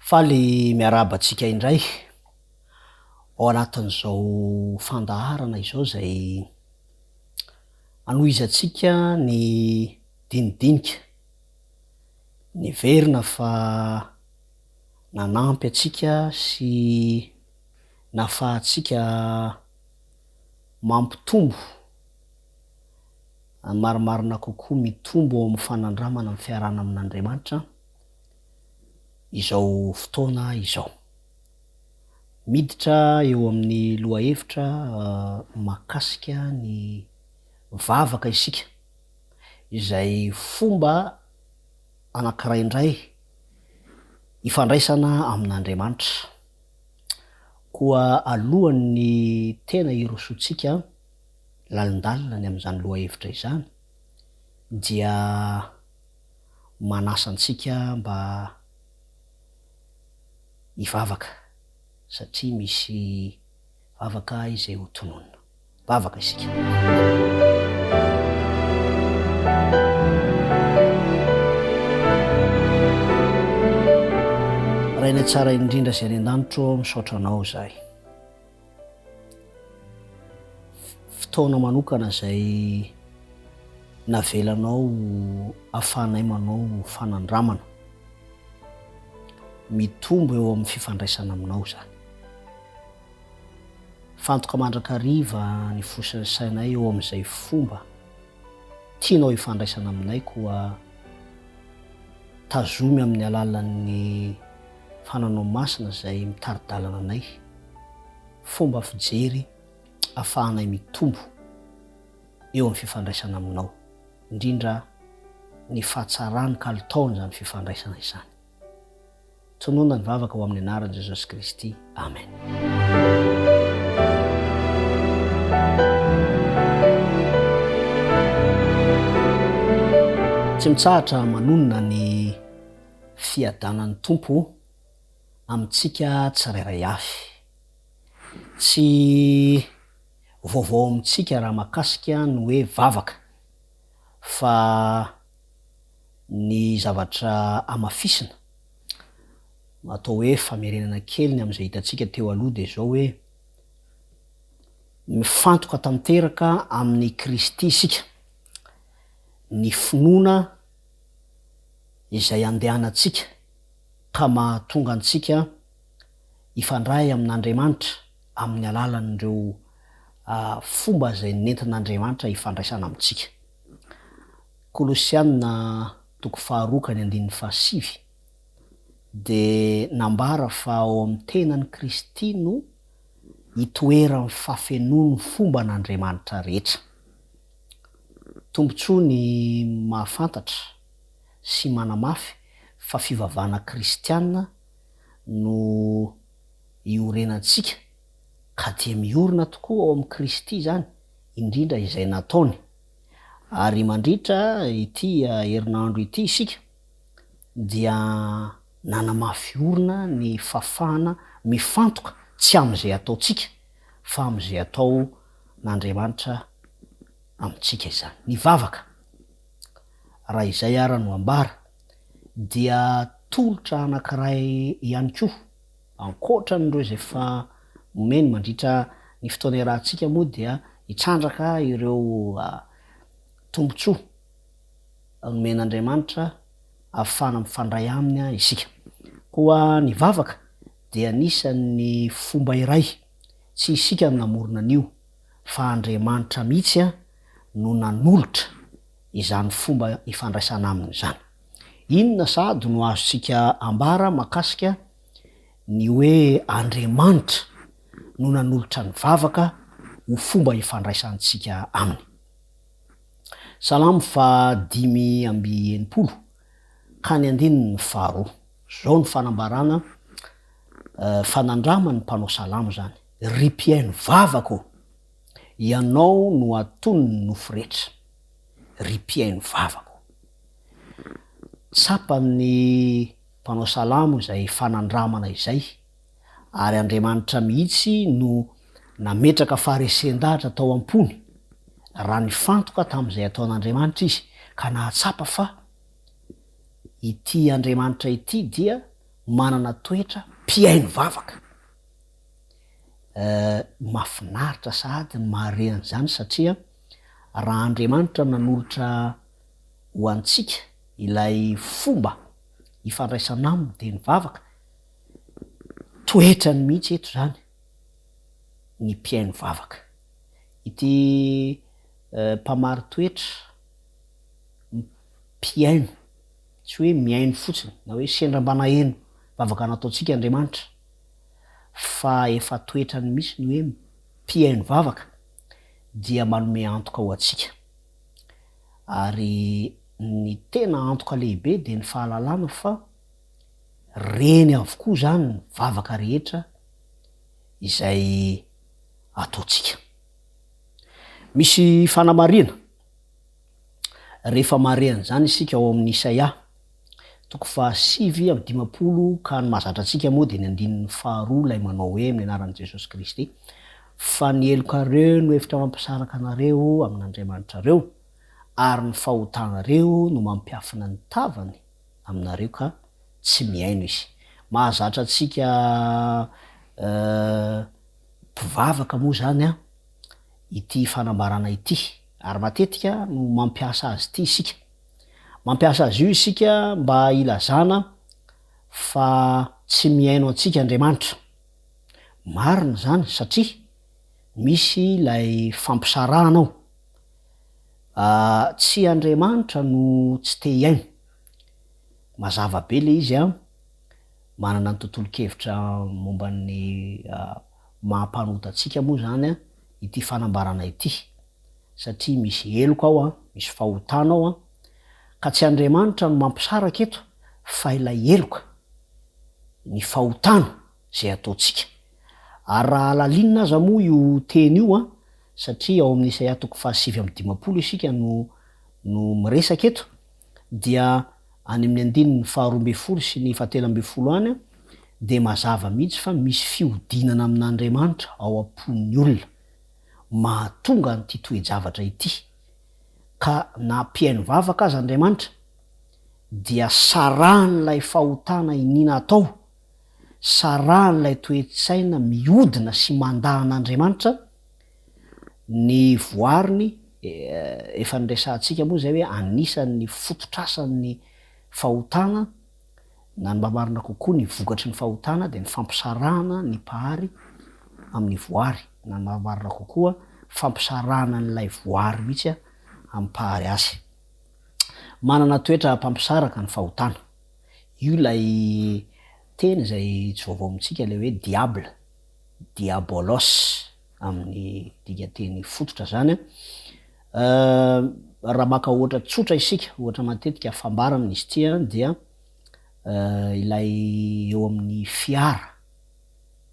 Faly miarahaba antsika indray ao anatin'izao fandaharana izao izay hanohizantsika ny dinidinika niverina fa nanampy antsika sy nahafahantsika mampitombo ny marimarina kokoa mitombo ao amin'ny fanandramana ny fiarahana amin'Andriamanitra izao fotoana izao. Miditra eo amin'ny lohahevitra mahakasika ny vavaka isika izay fomba anankiray indray ifandraisana amin'Andriamanitra. Koa alohan' ny tena hirosoantsika lalindalina ny amin'izany lohahevitra izany dia manasa antsika mba hivavaka satria misy Vavaka izay ho tononina. Vavaka isika. Rainay tsara indrindra izay any an-danitro ô, misaotra Anao izahay. Fotoana manokana izay navelanao ahafahanay manao fanandramana. Mitombo eo amin'ny fifandraisana aminao izany. Fantoka mandrakariva ny fo sy ny sainay eo amin'izay fomba tianao hifandraisana aminay koa tazomy amin'ny alalan'ny fananao masina izay mitari-dalana anay, fomba fijery afahanay mitombo eo amin'ny fifandraisana aminao, indrindra ny fahatsarany kalitaony izany fifandraisana izany. Tonona ny vavaka ho amin'ny anaran'i Jesosy Kristy. Amen. Tsy mitsahatra manonona ny fiadanan'ny Tompo amintsika tsirairay avy. Tsy vaovao amintsika raha mahakasika ny hoe vavaka fa ny zavatra hamafisina, atao hoe famerenana kely ny amin'izay hitantsika teo aloha dia izao hoe, mifantoka tanteraka amin'i Kristy isika, ny finoana izay andehanantsika ka mahatonga antsika hifandray amin'Andriamanitra amin'ny alalan'ireo fomba izay nentin'Andriamanitra hifandraisana amintsika. Kolosiana toko faharoa ka ny andininy fahasivy dia nambara fa ao amin'ny tenan'i Kristy no itoeran'ny fafenoan'ny fomba an'Andriamanitra rehetra. Tombontsoa ny mahafantatra sy manamafy fa fivavahana kristiana no iorenantsika. ka dia miorina tokoa ao amin'i Kristy izany, indrindra izay nataony. Ary mandritra ity herinandro ity isika dia nanamafy orina ny fafana mifantoka tsy amin'izay ataontsika fa amin'izay ataon'Andriamanitra amintsika izany. Ny vavaka, raha izay ara no ambara, dia tolotra anankiray ihany koa. Ankoatra an'ireo izay efa nomeny mandritra ny fotoana iarahantsika moa dia hitrandraka ireo tombontsoa nomen'Andriamanitra ahafahana mifandray Aminy isika. Koa ny vavaka dia anisan'ny fomba iray, tsy isika no namorona an'io fa Andriamanitra mihitsy no nanolotra izany fomba ifandraisana Aminy izany. Inona sahady no azontsika ambara mahakasika ny hoe Andriamanitra no nanolotra ny vavaka ho fomba ifandraisantsika Aminy? Salamo faha dimy amby enimpolo ka ny andininy faha roa. Izao no fanambarana fa nandraman'ny mpanao salamo izany, Ry mpihaino vavaka ô, Ianao no atonon'ny nofo rehetra, ry mpihaino vavaka ô. Tsapan'ny mpanao salamo izay fanandramana izay, ary Andriamanitra mihitsy no nametraka faharesen-dahatra tao am-pony, raha nifantoka tamin'izay ataon'Andriamanitra izy, ka nahatsapa fa ity Andriamanitra ity dia manana toetra mpihaino vavaka. Eh, mahafinaritra sahady ny mahare an'izany, satria raha Andriamanitra nanolotra. ho antsika ilay fomba ifandraisana aminy dia ny vavaka, toetrany mihitsy eto izany ny mpihaino vavaka. Ity mpamari-toetra mpihaino, tsy hoe mihaino fotsiny na hoe sendra mba naheno vavaka nataontsika Andriamanitra fa efa toetrany mihitsy ny hoe mpihaino vavaka dia manome antoka ho antsika. Ary ny tena antoka lehibe dia ny fahalalana fa reny avokoa izany ny vavaka rehetra izay ataontsika. Misy fanamarihana rehefa mare an'izany isika ao amin'ny Isaia Toko fahasivy amby dimampolo Ka ny mahazatra antsika moa dia ny andininy faharoa ilay manao hoe amin'ny anaran'i Jesosy Kristy fa ny helokareo no efitra mampisaraka anareo amin'Andriamanitrareo ary ny fahotanareo no mampiafina ny tavany aminareo ka tsy mihaino izy mahazatra antsika mpivavaka moa izany ity fanambarana ity ary matetika no mampiasa azy ity isika Mampiasa azy io isika mba hilazana fa tsy mihaino antsika Andriamanitra. Marina izany satria misy ilay fampisarahana ao. Tsy Andriamanitra no tsy te hihaino. Mazava be ilay izy an! Manana ny tontolon-kevitra momba ny maha-mpanota antsika moa izany an! ity fanambarana ity, satria misy heloka ao, misy fahotana ao, ka tsy Andriamanitra no mampisaraka eto fa ilay heloka, ny fahotana izay ataontsika. Ary raha halalinina aza moa io teny io, satria ao amin'ny Isaia toko fahasivy amby dimampolo isika no no miresaka eto, dia any amin'ny andininy faharoa ambin'ny folo sy ny fahatelo ambin'ny folo any dia mazava mihitsy fa misy fihodinana amin'Andriamanitra ao am-pon'ny olona mahatonga an'ity toe-javatra ity. Ka na mpihaino vavaka aza Andriamanitra dia sarahan'ilay fahotana iniana atao, sarahan'ilay toe-tsaina mihodina sy mandà an'Andriamanitra, Ny voariny, efa niresahantsika moa izay hoe anisan'ny fototr'asan'ny fahotana, na ny mba marina kokoa ny vokatry ny fahotana dia ny fampisarahana ny mpahary amin'ny voary, na ny mba marina kokoa fampisarahana an'ilay voary mihitsy amin'ny mpahary azy. Manana toetra mpampisaraka ny fahotana. Io ilay teny izay tsy vaovao amintsika, ilay hoe diable, Diabolos amin'ny dikanteny fototra izany. Raha maka ohatra tsotra isika, ohatra matetika fambara amin'izy ity dia ilay eo amin'ny fiara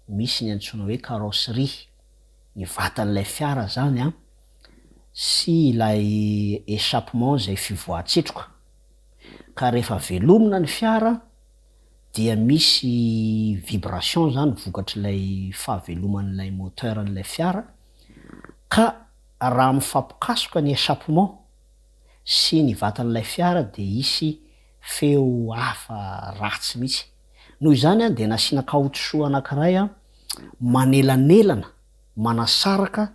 misy ny antsoina hoe carrosserie, ny vatan'ilay fiara izany an, sy ilay échappement izay fivoahan-tsetroka. Ka rehefa velomina ny fiara, dia misy vibration izany vokatr'ilay fahaveloman'ilay moteur an'ilay fiara ka raha mifampikasoka ny echappement sy ny vatan'ilay fiara dia hisy feo hafa ratsy mihitsy. Noho izany dia nasiana kaotisoa anankiray manelanelana manasaraka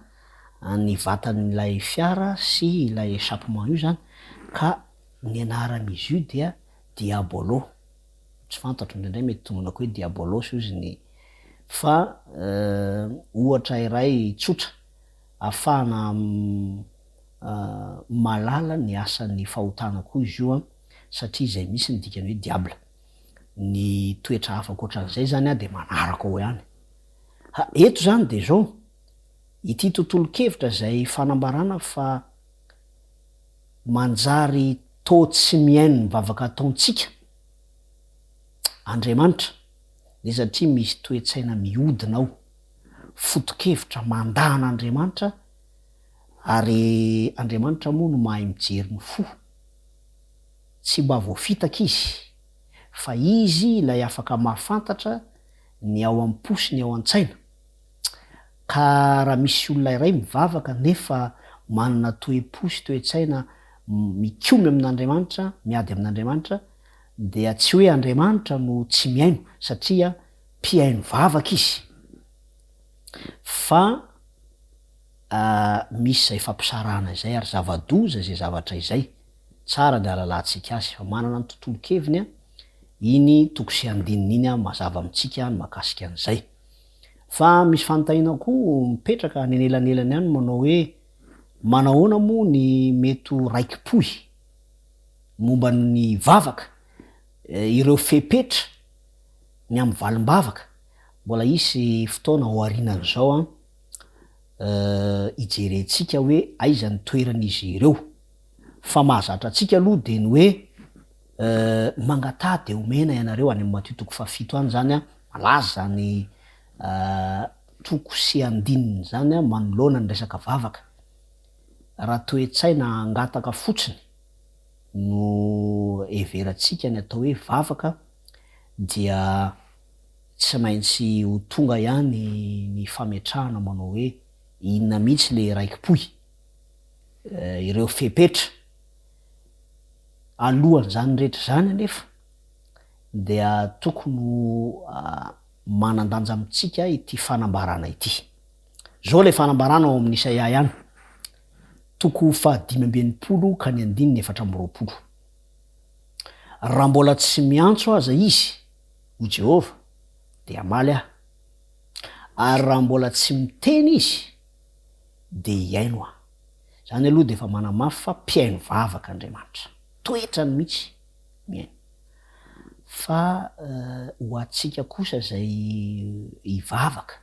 ny vatan'ilay fiara sy ilay echappement io izany ka ny anaran'izy io dia Diabolo, tsy fantatro indraindray mety tomonako hoe diabolos ozy ny fa ohatra iray tsotra afahana mahalala ny asan'ny fahotana koa izy io an, satria izay misy ny dikany hoe diable, ny toetra hafa ankoatran'izay zany an dia manaraka ao ihany. Ha, eto zany dia zao, ity tontolon-kevitra izay fanambarana fa manjary. Toa tsy mihaino ny vavaka ataontsika Andriamanitra dia satria misy toe-tsaina mihodina ao, foto-kevitra mandà an'Andriamanitra ary Andriamanitra moa no mahay mijery ny fo. Tsy mba voafitaka Izy fa Izy ilay afaka mahafantatra ny ao am-po sy ny ao an-tsaina. Ka raha misy olona iray mivavaka nefa manana toe-po sy toe-tsaina mikomy amin'Andriamanitra, miady amin'Andriamanitra, dia tsy hoe Andriamanitra no tsy mihaino, satria mpihaino vavaka Izy, fa misy izay fampisarahana izay, ary zava-doza izay zavatra izay, tsara ny hahalalantsika azy, fa manana ny tontolon-keviny iny toko sy andininy iny mazava amintsika ny mahakasika an'izay. Fa misy fanontaniana koa mipetraka any anelanelan'ny any manao hoe manahoana moa ny mety ho raiki-pohy momba ny vavaka, ireo fepetra, ny amin'ny valim-bavaka? Mbola hisy fotoana aorianan'izao an, hijerentsika hoe aiza ny toeran'izy ireo. Fa mahazatra antsika aloha dia ny hoe. Euh mangataha de omena ianareo any amin'ny Matio toko fahafito any zany an malaza zany euh toko sy andininy zany an manoloana ny resaka vavaka. Raha toe-tsaina hangataka fotsiny no heverantsika ny atao hoe vavaka dia tsy maintsy ho tonga ihany ny fametrahana manao hoe inona mihitsy le raiki-pohy? Euh ireo fepetra. Alohan'izany rehetra izany anefa dia tokony ho manan-danja amintsika ity fanambarana ity. Izao ilay fanambarana ao amin'ny Isaia ihany, toko fahadimy amby enimpolo ka ny andininy efatra amby roapolo. Raha mbola tsy miantso aza izy, hoy Jehovah, dia hamaly aho, ary raha mbola tsy miteny izy, dia hihaino aho. Izany aloha dia efa manamafy fa mpihaino vavaka Andriamanitra. Toetrany mihitsy mihaino. Fa ho antsika kosa izay hivavaka,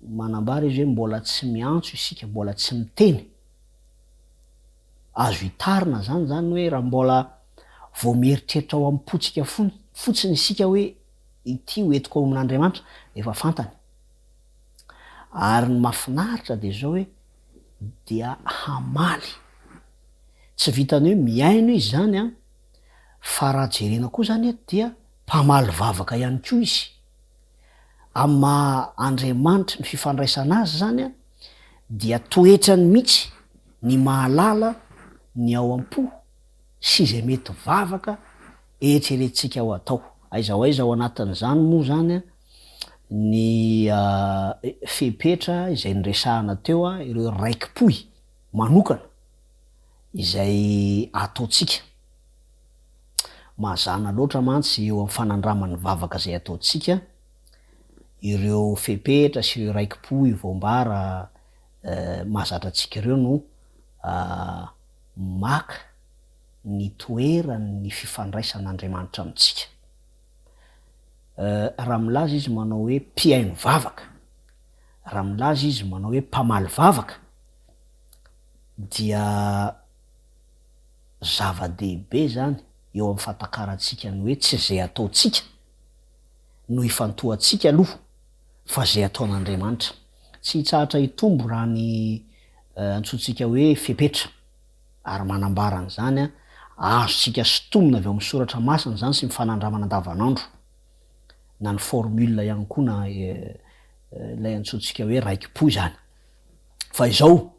manambara izy hoe mbola tsy miantso isika, mbola tsy miteny. Azo itarina izany izany hoe raha mbola vao mieritreritra ao am-pontsika fotsiny isika hoe ity ho entiko ao amin'Andriamanitra dia efa fantany. Ary ny mafinaritra dia zao hoe dia hamaly. Tsy vitan'ny hoe mihaino izy zany an, fa raha jerena koa zany eto dia mpamaly vavaka ihany koa izy. Amin'ny maha Andriamanitry ny fifandraisana azy zany an, dia toetrany mihitsy ny mahalala ny ao am-po sy izay mety vavaka eritreretintsika ho atao. Aiza ho aiza ao anatin'izany moa zany an, ny fepetra izay niresahana teo, ireo raikipohy manokana izay ataontsika. Mazàna loatra mantsy eo amin'ny fanandraman'ny vavaka izay ataontsika ireo fepetra sy ireo raikipohy voambara mahazatra antsika ireo no maka ny toeran'ny fifandraisan'Andriamanitra amintsika. Raha milaza izy manao hoe mpihaino vavaka, raha milaza izy manao hoe mpamaly vavaka, dia zava-dehibe izany eo amin'ny fahatakarantsika ny hoe tsy izay ataontsika no ifantohantsika aloha fa izay ataon'Andriamanitra. Tsy hitsahatra hitombo raha ny antsointsika hoe fepetra. Ary manambara an'izany, azontsika sintomina avy ao amin'ny Soratra Masina izany sy ny fanandramana andavanandro, na ny formule ihany koa na ilay antsointsika hoe raikipo izany. Fa izao,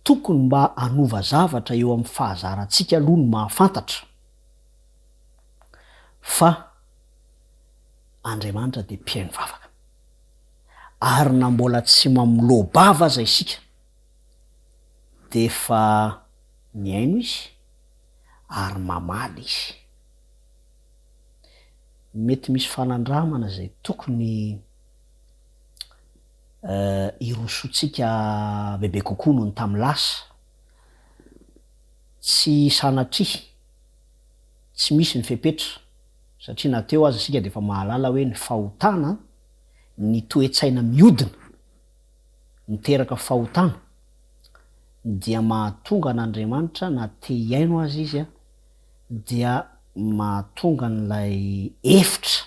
tokony mba hanova zavatra eo amin'ny fahazarantsika aloha ny mahafantatra fa Andriamanitra dia mpihaino vavaka. Ary na mbola tsy mamoloa-bava aza isika, D'efa mihaino izy ary mamaly izy. Mety misy fanandramana izay tokony hirosoantsika bebe kokoa noho ny tamin'ny lasa. Tsy sanatria, tsy misy ny fepetra satria na teo aza isika dia efa mahalala hoe ny fahotana, ny toe-tsaina mihodina, miteraka fahotana dia mahatonga an'Andriamanitra na te hihaino aza izy dia mahatonga an'ilay efitra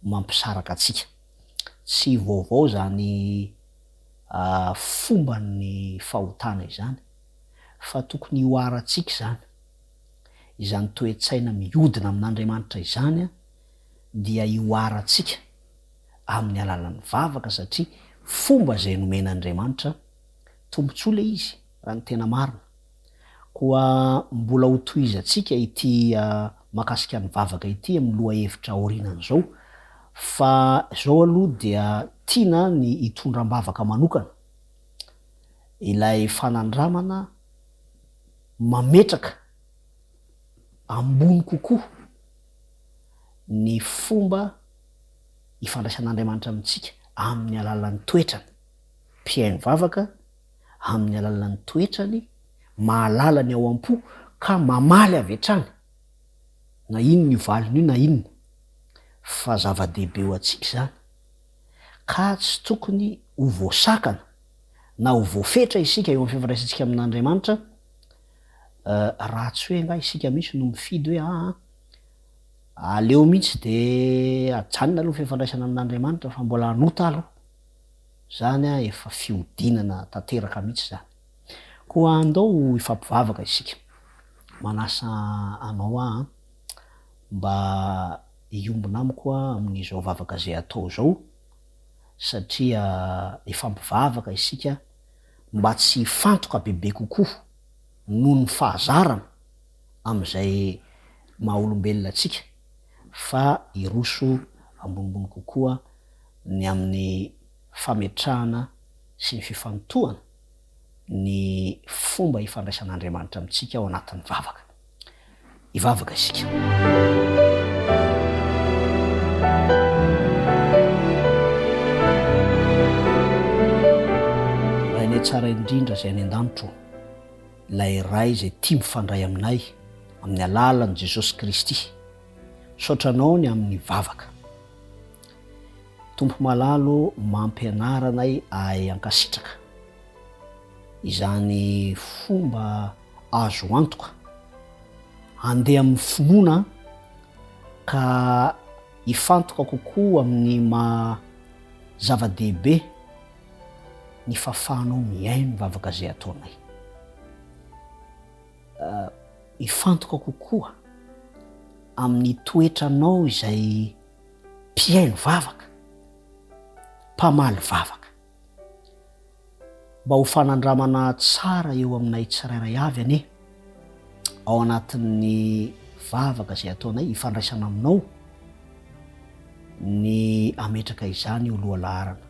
mampisaraka antsika. Tsy vaovao izany fomban'ny fahotana izany fa tokony hihoarantsika izany. Izany toe-tsaina mihodina amin'Andriamanitra izany dia hihoarantsika. amin'ny alalan'ny vavaka satria fomba izay nomena Andriamanitra tombontsoa ilay izy raha ny tena marina. Koa mbola ho tohizantsika ity makasika ny vavaka ity amin'ny lohahevitra aorianan'izao fa izao aloha dia tiana ny hitondra am-bavaka manokana ilay fanandramana mametraka ambony kokoa ny fomba ifandraisan'Andriamanitra amintsika amin'ny alalan'ny toetrany. Mpihaino vavaka amin'ny alalan'ny toetrany, mahalala ny ao am-po ka mamaly avy hatrany, na inona io valiny io na inona, fa zava-dehibe ho antsika izany, ka tsy tokony ho voasakana na ho voafetra isika eo amin'ny fifandraisantsika amin'Andriamanitra, raha tsy hoe angaha isika mihitsy no mifidy hoe aa. Aleo mihitsy dia ajanona aloha ny fifandraisana amin'Andriamanitra fa mbola hanota aloha. Izany efa fihodinana tanteraka mihitsy izany. Koa andao hifampivavaka isika. Manasa anao aho mba hiombona amiko amin'izao vavaka izay atao izao satria hifampivavaka isika mba tsy hifantoka bebe kokoa noho ny fahazarana. amin'izay maha-olombelona antsika fa hiroso ambonimbony kokoa ny amin'ny fametrahana sy ny fifantohana ny fomba ifandraisan'Andriamanitra amintsika ao anatin'ny vavaka. Hivavaka isika. Rainay tsara indrindra izay any an-danitra ô. ilay Ray izay tia mifandray aminay amin'ny alalan'i Jesosy Kristy. Misaotra Anao ny amin'ny vavaka. Tompo malalo ô, mampianara anay ahay hankasitraka. Izany fomba azo antoka, handeha amin'ny finoana aho ka hifantoka kokoa amin'ny maha zava-dehibe ny fahafahanao mihaino ny vavaka izay ataonay. Hifantoka kokoa amin'ny toetranao izay mpihaino vavaka, mpamaly vavaka. Mba ho fanandramana tsara eo aminay tsirairay avy anie. ao anatin'ny vavaka izay ataonay hifandraisana aminao ny ametraka izany ho lohalaharana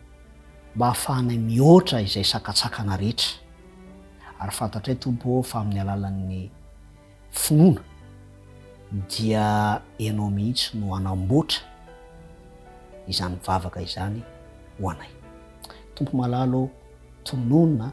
mba hahafahanay mihoatra izay sakatsakana rehetra ary fantatray tompo ao fa amin'ny alalan'ny finoana dia ianao mihitsy no hanamboatra izany vavaka izany ho anay tompo malalo tononina